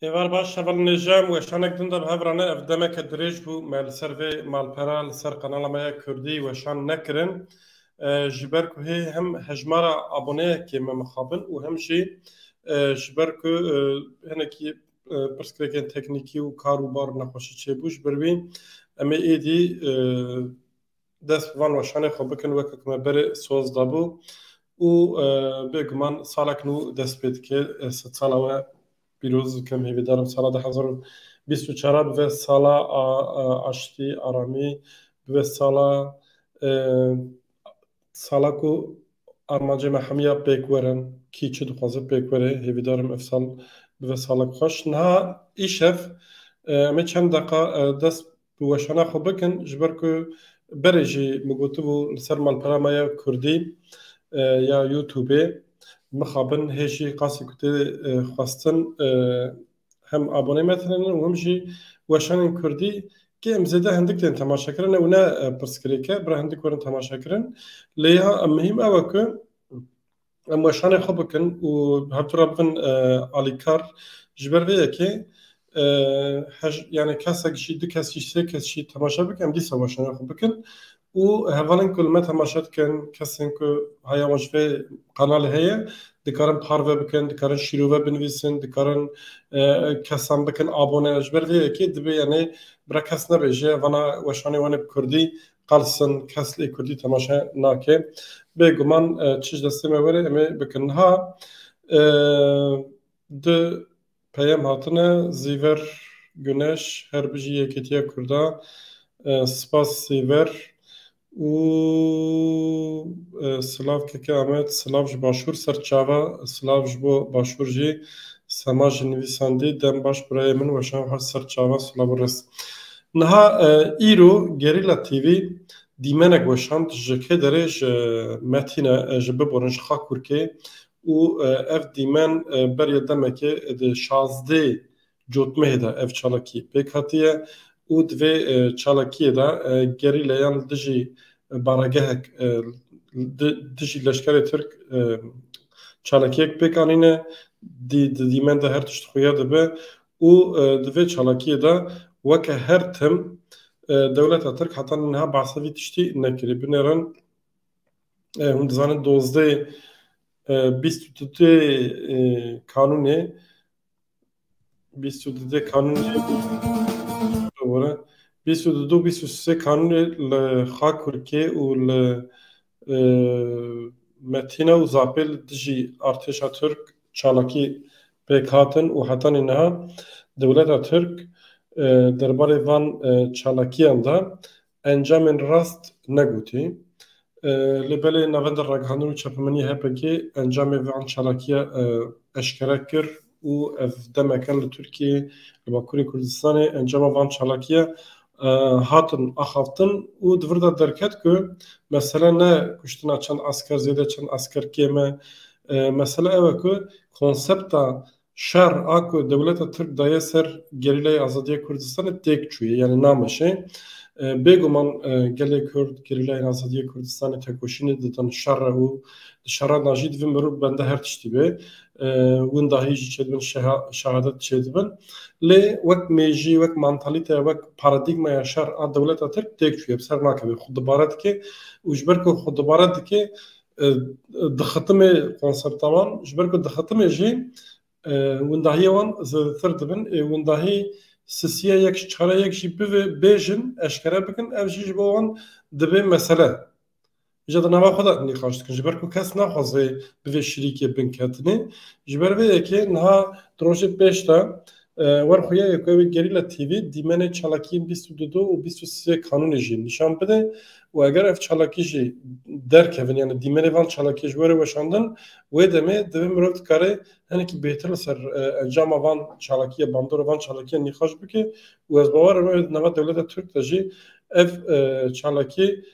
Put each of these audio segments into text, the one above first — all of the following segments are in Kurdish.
Êvar baş hevalin nêjem we şanek din de bi hevrane ev demeke dirêj bû me li ser vê malpera li ser qanala me ya Kurdî weşan nekirin ji ber ku hê hem hejmara aboneyekê me mixabin û hem jî ji ber ku hinekî pirsgirêkên teknîkî û kar û bar nexweşî çêbû. Ji ber wî em ê êdî dest bi van weşanê xwe bikin weke ku me berê soz dabû û bêguman salek nû dest pê dike. Sed sala we pîroz dikim, hêvîdar im sala du hezar û bîst û çar bibe sala aştî, aramî, bibe sala Sala ku armancê me hemiya pêk werin, kî çi dixwaze pêk were, hêvîdar im ev sal bibe salek xweş. Niha îşev em ê çend deqa dest bi weşana xwe bikin ji ber ku berê jî min gotibû li ser malpera me ya Kurdî ya Youtubê mixabin hê jî qasî ku tê xwestin hem abonê me tune ne û hem jî weşanên Kurdî ki em zêde hindik tên temaşekirin ew ne pirsgirêk e bira hindik werin temaşekirin lê ya em mihîm ew e ku em weşanê xwe bikin û her tu re bibin alîkar ji ber vê yekê yani kesek jî du kes jî sê kes jî temaşe bikin em dîsa weşanê xwe bikin û hevalên ku li me temaşe dikin kesên ku haya wan ji vê kanalê heye dikarin parve bikin, dikarin şîrove binivîsin, dikarin kesan bikin abone. Ji ber vê yekê divê yanê bira kes nebêje vana weşanê wan ê bi kurdî qelsin kes lê kurdî temaşe nake. Bê guman çi ji destê me were em ê bikin. Niha Du peyam hatine Zîver Guneş her bijî Yekîtiya Kurdan Spas Zîver û silav keke Amed silav ji başûr ser çava silav ji bo başûr jî Sema jî nivîsandî dem baş birayê min weşan xwe ser çava silav û ris Niha îro Gerîla TV dîmenek weşand ji kê derê ji Metîne ji biborin ji Xakûrkê û ev dîmen beriya demekê di şazdê cotmehê de ev çalakî pêk hatiye û di vê çalakiyê de gerîlayan li dijî baragehek li dijî leşkerê Tirk çalakiyek pêk anîne. Di dîmen de her tişt xuya dibe û di vê çalakiyê de weke her tim dewleta Tirk heta niha behsa vî tiştî nekirî. Binêrin Hûn dizanin dozdeh bîst û dudê kanûnê bîst û dudê kanûnê bore bîst û dudu bîst û sê kanûnê li Xakurkê û li Metîna û Zapê li dijî artêşa Tirk çalakî pêk hatin û hetanî niha dewleta Tirk derbarê van çalakiyan de Encamên rast negotî. Lê belê Navenda Ragihandin û Çapemenî HPG encamê van çalakiya eşkere kir û ev demeke li Tirkiyeyê li Bakurê Kurdistanê encama van çalakiya hatin axaftin û di vir de derket ku mesele ne kuştina çend esker zêde çend esker kêm e. Mesele ew e ku konsepta Şer a ku dewleta Tirk daye ser Gerîlayê Azadiyê Kurdistanê têk çûye yanî nameşe. Bêguman gelê Kurd Gerîlayên Azadiyê Kurdistanê tekoşînê didin şer re û di şeran de jî divin mirov bende her tiştî be. Winda hî jî çêdibin şehadet çêdibin. Lê wek mêjî, wek mantalîteya, wek paradîgmaya şer a dewleta Tirk têk çûye bi ser nakeve. Xwe dibare dike û ji ber ku xwe dibare dike Di xitimê konserta wan ji ber ku di xitimê jî windahiyê wan zêdetir dibin ê windahî sisiya yek ji çare yek jî bivê bêjin eşkere bikin ev jî ji bo wan dibê mesele. Îja di nava xwe de nîqaş dikin ji ber ku kes naxwaze bi vê şirîkê binketinê ji ber vê yekê niha di rojê pêş de Wer xuya ye ku ew ê Gerîla TV dîmenê çalakiyên bîst û du du û bîst û sê kanûnê jî nîşan bide û eger ev çalakî jî derkevin yanî dîmenê van çalakiyê ji were weşandin wê demê divê mirov dikare hinekî bêhtir li ser encama van çalakiyê bandora van çalakiyan nîqaş bike û ez bawer im ew ê di nava dewleta Tirk de jî ev çalakî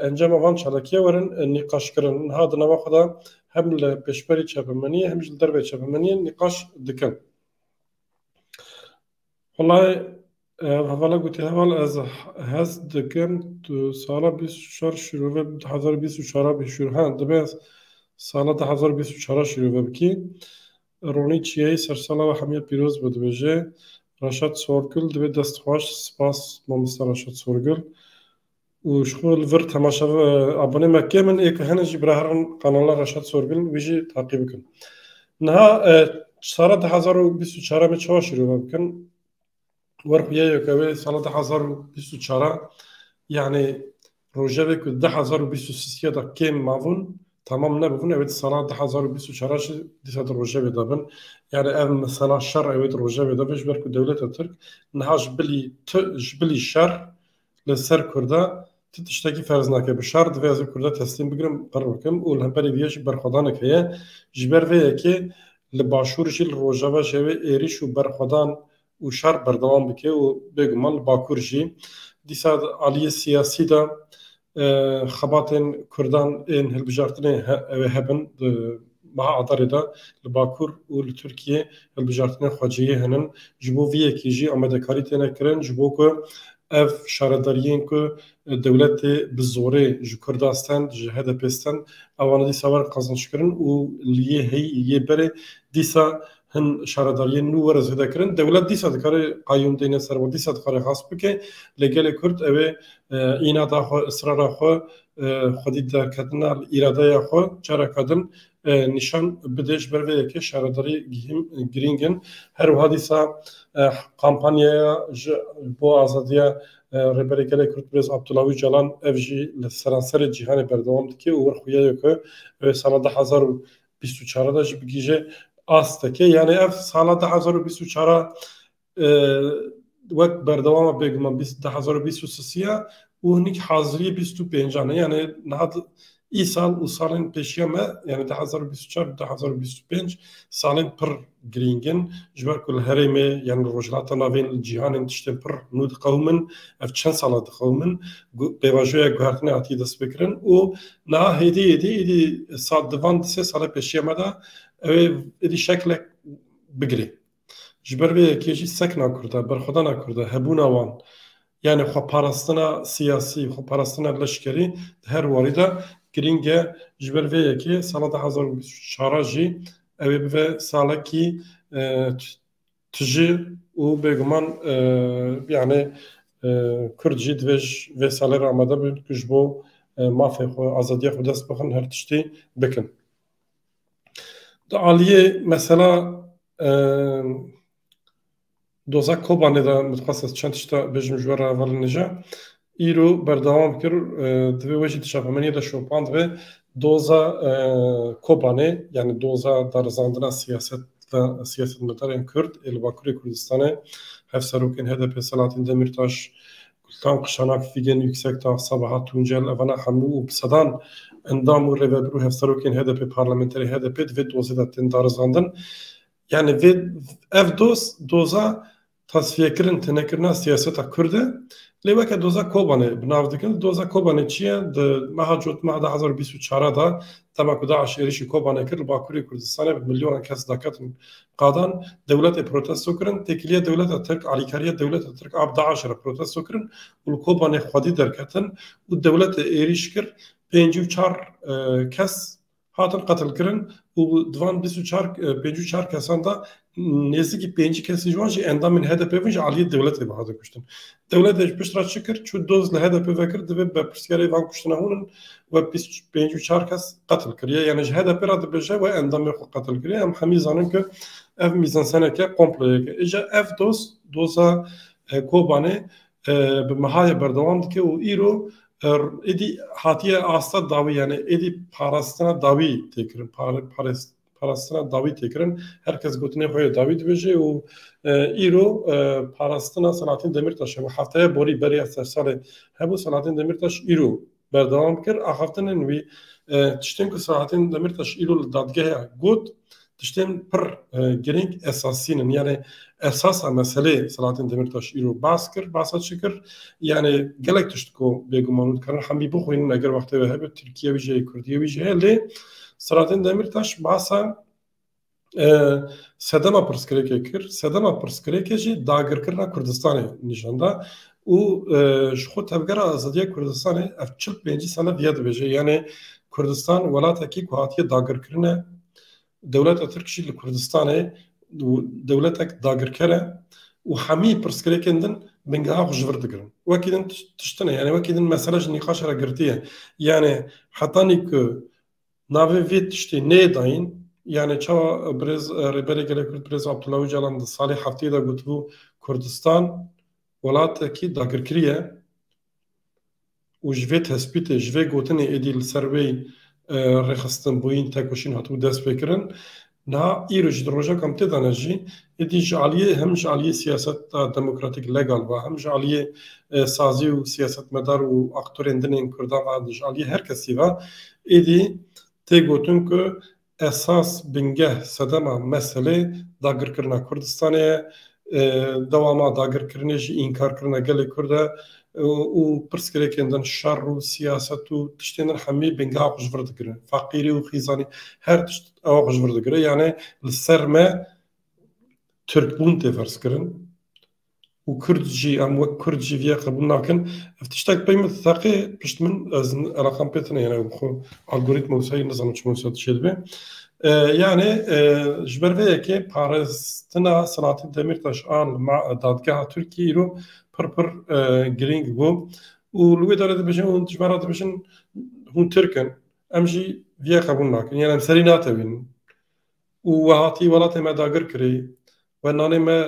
encama van çalakiye werin nîqaşkirin. Niha di nava xwe de hem li pêşberî çepemeniyê hem jî li derveyê çepemeniyê nîqaş dikin. Walayi hevala gotî heval ez hez dikim tu sala bîst û çar şîrove bi du hezar û bîst û çar bî şûr he dibe sala du hezar û bîst û çar şîrove bikî ronî çiyayî sersala we hemiya pîroz be dibêje Reşat Sorgul divê dest xweş spas mamosta Reşat Sorgul û ji xwe li vir temaşe abonê me kêm in, ê ku hene jî biraherin kanala Reşat Sorgil wî jî taqî bikin. Niha sala du hezar û bîst û çar em ê çawa şîrove bikin? Wer xwe yek ew ê sala du hezar û bîst û çar yanî rojevê ku du hezar û bîst û sîsîya de kêm mabûn temam nebûbûn ew ê di sala du hezar û bîst û çar jî dîsa di rojevê de bin. Yanî ev mesela şer ew ê di rojevê de be ji ber ku dewleta Tirk niha ji bilî ji bilî şer Li ser Kurda tu tiştekî ferz nake. Bi şer divê ez ê Kurda teslîm bigirim, qir bikim û li hemberî vê yê jî berxwedanek heye. Ji ber vê yekê li Başûr jî li Rojava ji wê êrîş û berxwedan û şer berdewam bike û bêguman li Bakur jî. Dîsa di aliyê siyasî de xebatên Kurdan ên hilbijartinê ew ê hebin. Meha Adarê de li Bakur û li Tirkiyê hilbijartinên xwecihî hene. Ji bo vê yekê jî amadekarî têne kirin ji bo ku ev şaredariyên ku dewletê bi zorê ji Kurdan stend, ji HDP'ê stend ewan dîsa werin qezinçkirin û li yê heyî û yê berê dîsa hin şaredariyên nû werin zêde kirin. Dewlet dîsa dikare qayûm deyne ser wan, dîsa dikare xas bike lê gelê Kurd ew ê îna da xwe, israra xwe xwedî derketina li îradeya xwe careke din nîşan bide ji ber vê yekê şaredarî girîng in. Her wiha dîsa kampanyaya ji bo azadiya Rêberê Gelê Kurd Birêz Abdullah Ocalan ev jî li seranserê cîhanê berdewam dike û wir xuya ye ku ew ê sala du hezar û bîst û çar de jî bigihîje asteke. Yanî ev sala du hezar û bîst û çar a wek berdewama bêguman du hezar û bîst û sê ya û hinîk haziriyê bîst û pêncan e yanê niha îsal û salên pêşiya me yanê du hezar û bîst û çar û du hezar û bîst û pênc salên pir girîng in ji ber ku li herêmê yan li rojhilata navê li cîhanê tiştên pir nû diqewimin ev çend sala diqewimin pêvajoya guhertinê hatiye destpêkirin û niha hêdî hêdî êdî di van di sê sala pêşiya me de ew ê êdî şeklek bigire. Ji ber vê yekê jî sekna Kurda, berxwedana Kurda, hebûna wan, yanê xweparastina siyasî, xweparastina leşkerî di her warî de girîng e. Ji ber vê yekê sala du hezar û bîst û çar jî ew ê bibe salekî tije û bêguman yanê Kurd jî divê ji vê salê re amade bin ku ji bo mafê xwe, azadiya xwe dest bixin her tiştî bikin. Di aliyê mesela doza Kobanê de min dixwest ez çend tişta bêjim ji we re heval nêje. Îro berdewam kir divê wê jî di çapemeniyê de şopand vê doza Kobanê yanî doza darizandina siyaset ve siyasetmedarên Kurd ê li Bakurê Kurdistanê hevserokên HDP'ê Selahattin Demîrtaş Gultan Kuşanak, Fîgen Yuksekdag, Sabahat Tuncel, Evana Hemû û bi sedan endam û rêveber û hevserokên HDP'ê parlamenterê HDP'ê di vê dozê de tên darizandin. Yanî vê ev doz doza tasfiyekirin tênekirina siyaseta Kurd e. Lê weke doza Kobanê bi nav dikin. Doza Kobanê çi ye? Di meha Cot meha du hezar û bîst û çar de dema ku DAIŞ êrîşî Kobanê kir li Bakurê Kurdistanê bi milyonan kes daketin Qadan dewletê protesto kirin, têkiliya dewleta Tirk, alîkariya dewleta Tirk a bi DAIŞ'ê re protesto kirin û li kobanê xwedî derketin û dewletê êrîş kir, pêncî û çar kes hatin qetilkirin û di van bîst û çar pêncî û çar kesan de nêzîkî pêncî kesên ji wan jî endamên HDP'ê bûn ji aliyê dewletê ve hatin kuştin. Dewletê ji pişt re çi kir? Çû doz li HDP'ê vekir divê berpirsiyarê van kuştina hûn in. We bîst û pênc û çar kes qetil kiriye. Yanî ji HDP'ê re dibêje we endamê xwe qetil kiriye. Em hemî zanin ku ev mîzanseneke komployeke. Îja ev doz, doza Kobanê bi Mihayê berdewam dike û îro êdî hatiye asta dawî yanî êdî parastina dawî tê kirin. Parê, parêz, parastina dawî tê kirin. Her kes gotinê xwe yê dawî dibêje û îro parastina Selahattin Demîrtaş hebû. Hefteya borî berê ya sersalê hebû Selahattin Demîrtaş îro berdewam kir axaftinên wî. Tiştên ku Selahattin Demîrtaş îro li dadgeha got tiştên pir girîng esasî ne. Yanê esasa meselê Selahattin Demîrtaş îro bas kir. Basa çi kir? Yanê gelek tişt ku bêguman û dikarin hemî bixwînin eger wextê we hebe Tirkiye wî jî heye, Kurdiyê wî jî heye lê Selahattin Demirtaş bahsa sedema pirsgirêkê kir. Sedema pirsgirêkê jî dagirkirina Kurdistanê nîşan da û ji xwe tevgera azadiya Kurdistanê ev çil pêncî sale diye dibêje yanê Kurdistan welatekî ku hatiye dagirkirine dewleta Tirk jî li Kurdistanê û dewletek dagirker e û hemî pirsgirêkên din bingeha xwe ji vir digirin. Wekî din tişt tune yanî wekî din mesele ji nîqaşa re girtî ye. Yanî hetanî ku navê vê tiştê neyê dayîn yanî çawa birêz Rêberê Gelê Kurd Birêz Abdullah Ocalan di salê hefteyê de gotibû Kurdistan welatekî dagirkirî ye û ji vê tespîtê, ji vê gotinê êdî li ser wê rêxistin, boyîn, tekoşîn hatibû destpêkirin. Niha îro jî di rojek em tê de ne jî êdî ji aliyê hem ji aliyê siyaseta demokratîk legal ve hem ji aliyê sazî û siyasetmedar û aktorên din ên Kurdan ve ji aliyê her kesî ve êdî tê gotin ku Esas, bingeh, sedema meselê dagirkirina Kurdistanê ye. Dewama dagirkirinê jî înkarkirina gelê Kurd e û pirsgirêkên din şer û siyaset û tiştên din hemî bingeha xwe ji vir digirin. Feqîrî û xîzanî her tişt ewa xwe ji vir digire. Yanê li ser me Tirkbûn tê ferzkirin. û kurd jî em wek kurd jî vîyê qebûl nakin. Ev tiştek pey min theqê pişt min ez eleqan pê tine yene xwe algoritma wisa yê nizanim çima wisa dişê dibe. Yanê ji ber vê yekê parêztina Selahattin Demîrtaş a li ma dadgeha Tirkiyê îro pir pir girîng bû û li wê derê dibêjin hûn ji ber re dibêjin hûn Tirk in em jî vîyê qebûl nakin yan em serî natewînin û we hatî welatê me dagir kirî we nanê me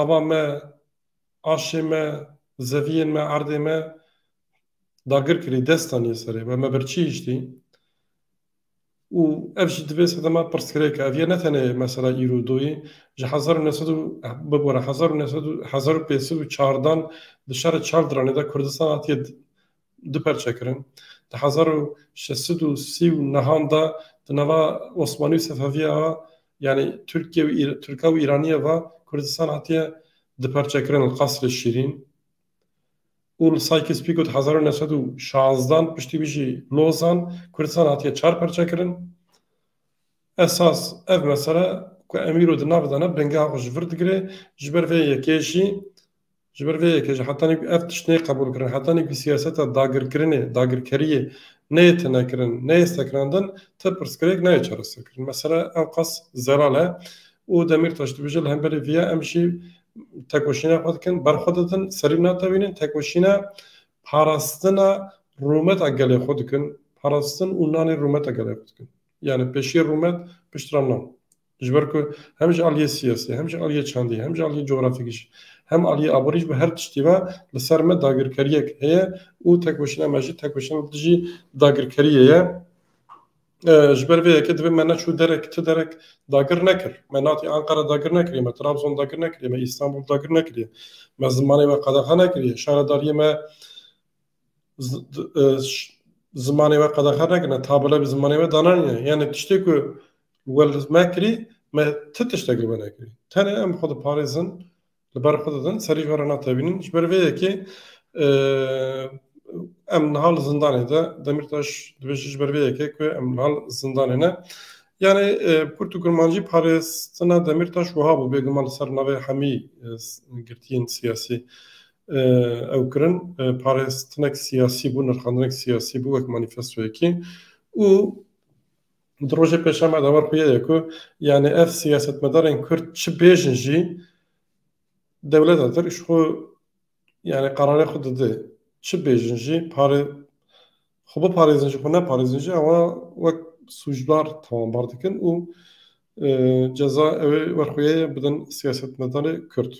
ava me, aşê me, zeviyên me, erdê me dagir kirî, dest danî serê me, me birçî hiştî û ev jî divê sedema pirsgirêk e. Ev yê ne tenê mesela îro û doyê, ji hezar û neh sed û bibore hezar û neh sed û hezar û pênc sed û çardan di şerê çar diranê de Kurdistan hatiye du perçe kirin. Di hezar û şeş sed û sî û nehan de di nava Osmanî û Sefevîye a yanî Tirkîye û Tirka û Îranîye ve Kurdistan hatiye du perçe kirin li Qasrê Şîrîn û li Saykîs-Pîko di hezar û neh sed û şazdeh an piştî wî jî Lozan Kurdistan hatiye çar perçe kirin. Esas ev mesele ku Emîro di nav de ne bingeha xwe ji vir digire ji ber vê yekê jî Ji ber vê yekê jî hetanî ku ev tişt neyê qebûlkirin, hetanî ku siyaseta dagirkirinê, dagirkeriyê neyê tinekirin, neyê sekinandin, ti pirsgirêk nayê çareserkirin. Mesele ewqas zelal e û Demîrtaş dibêje li hemberî vê ya em jî tekoşîna xwe dikin, berxwe didin, serî natewînin, tekoşîna parastina rûmeta gelê xwe dikin, parastin û nanê rûmeta gelê xwe dikin. Yanî pêşiyê rûmet piştre nan. Ji ber ku hem ji aliyê siyasî, hem ji aliyê çandî, hem ji aliyê cografîkî jî, hem aliyê aborî jî bi her tiştî ve li ser me dagirkeriyek heye û têkoşîna me jî têkoşîna li dijî dagirkeriyê ye. Ji ber vê yekê divê me neçû derek ti derek dagir nekir. Me natî Anqara dagir nekiriye, me Trabzon dagir nekiriye, me Îstanbul dagir nekiriye, me zimanê we qedexe nekiriye, şaredariyê me zimanê we qedexe nekirine, tabela bi zimanê we dananîne. Yanî tiştê ku we li me kirî, me ti tiştek li we nekirî. Tenê em xwe diparêzin, li ber xwe didin, serî ji we re natewînin. Ji ber vê yekê em niha li zindanê de, Demîrtaş dibêje ji ber vê yekê ku em niha li zindanê ne. Yanî Kurd û Kurmancî parêztina Demîrtaş wiha bû bêguman li ser navê hemî girtiyên siyasî. ew kirin parêztinek siyasî bû, nirxandinek siyasî bû wek manîfestoyekî û di rojê pêşema de war xuye ye ku yanî ev siyasetmedarên Kurd çi bêjin jî dewleta tir ji xwe yanî qerarê xwe dide. Çi bêjin jî parê xwe biparêzin jî xwe neparêzin jî ewa wek sûcdar tewambar dikin û ceza ew ê werxweyeyê bidin siyasetmedarê Kurd.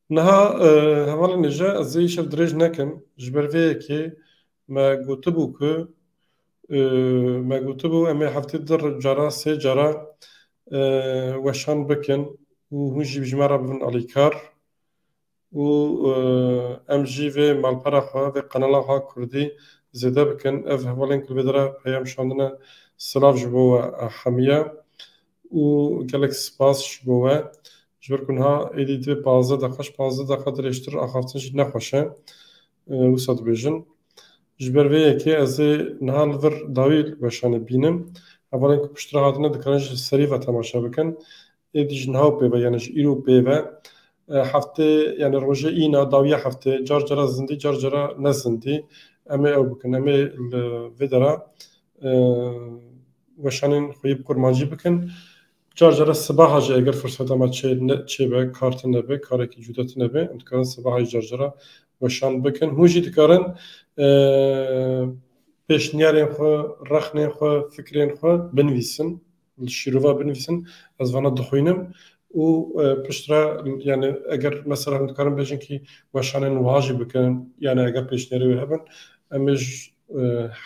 Niha hevalên dije ez ê îşev dirêj nekim ji ber vê yekê me gotibû ku me gotibû em ê heftê du cara sê cara weşan bikin û hûn jî ji me re bibin alîkar û em jî vê malpera xwe vê qenala xwe kurdî zêde bikin. Ev hevalên ku li vê dere peyam şandine silav ji bo we hemiye. û gelek spas ji bo we. Ji ber ku niha êdî divê pazdeh deqa ji pazdeh deqa dirêjtir axaftin jî ne xweş e. Wisa dibêjin. Ji ber vê yekê ez ê niha li vir dawî weşanê bînim. Hevalên ku piştre hatine dikarin ji serî ve temaşe bikin. Êdî ji niha û pê ve yanî ji îro û pê ve heftê yanî rojê îna dawiya heftê car cara zindî car cara ne zindî em ê ew bikin. Em ê li vê dera weşanên xwe yê bi kurmancî bikin. Car care sibaha jî eger firseta me çê ne çêbe kar tune be karekî cuda tune be em dikarin sibaha jî car cara weşan bikin. Hûn jî dikarin pêşniyarên xwe, rexnên xwe, fikrên xwe binivîsin li şîrova binivîsin ez vana dixwînim û pişt re yanî eger mesela hûn dikarin bêjin kî weşanên wiha jî bikin yanî eger pêşniyarê wê hebin em ê ji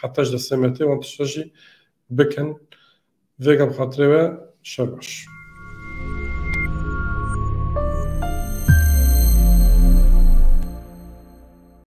Heta ji dê semetê wan tişta jî bikin. Vêga bi xatirê we şer baş.